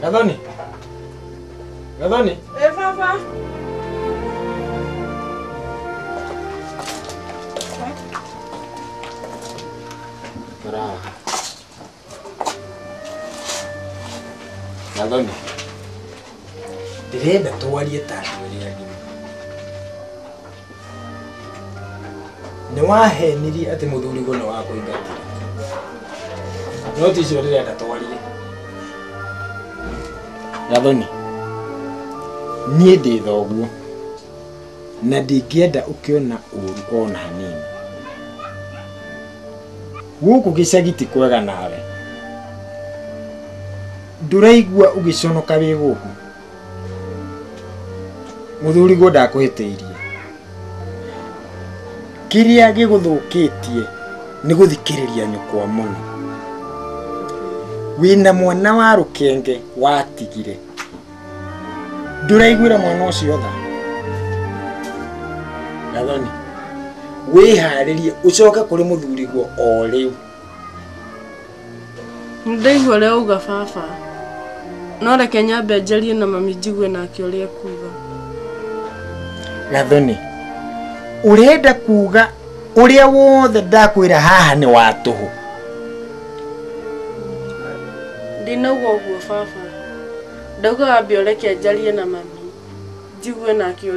Gathoni. Gathoni. Eh, baba. Bravo. Gathoni. Ndĩrenda twarie ta andũ erĩ agima. nĩ wahenirie atĩ mũthuriguo nĩ wakũingatire no ti icio ndĩrenda twarie gathoni niĩ ndĩ thoguo na ndingĩenda ũkĩona ũru ona hanini gũkũ gĩcagi ti kwega nawe ndũraigua ũgĩconoka wĩ gũkũ muthuriguo ndakuhitiirie kiria giguthukitie ni guthikiriria nyukwa muno wina mwana wa rukenge watigire nduraiguire mwana ucio tha gathoni wiharirie ucoke kuri muthuriguo o riu Nĩndaigua ũrĩa uga baba. No reke nyambe njarie na mami njigue nake ũrĩa ekuga. Gathoni, ũrenda kuga ũrĩa wothe ndakwĩra haha nĩ wa tũhũ? Ndinauga ũguo baba. Ndauga wambe ũreke njarie na mami njigue nake ũrĩa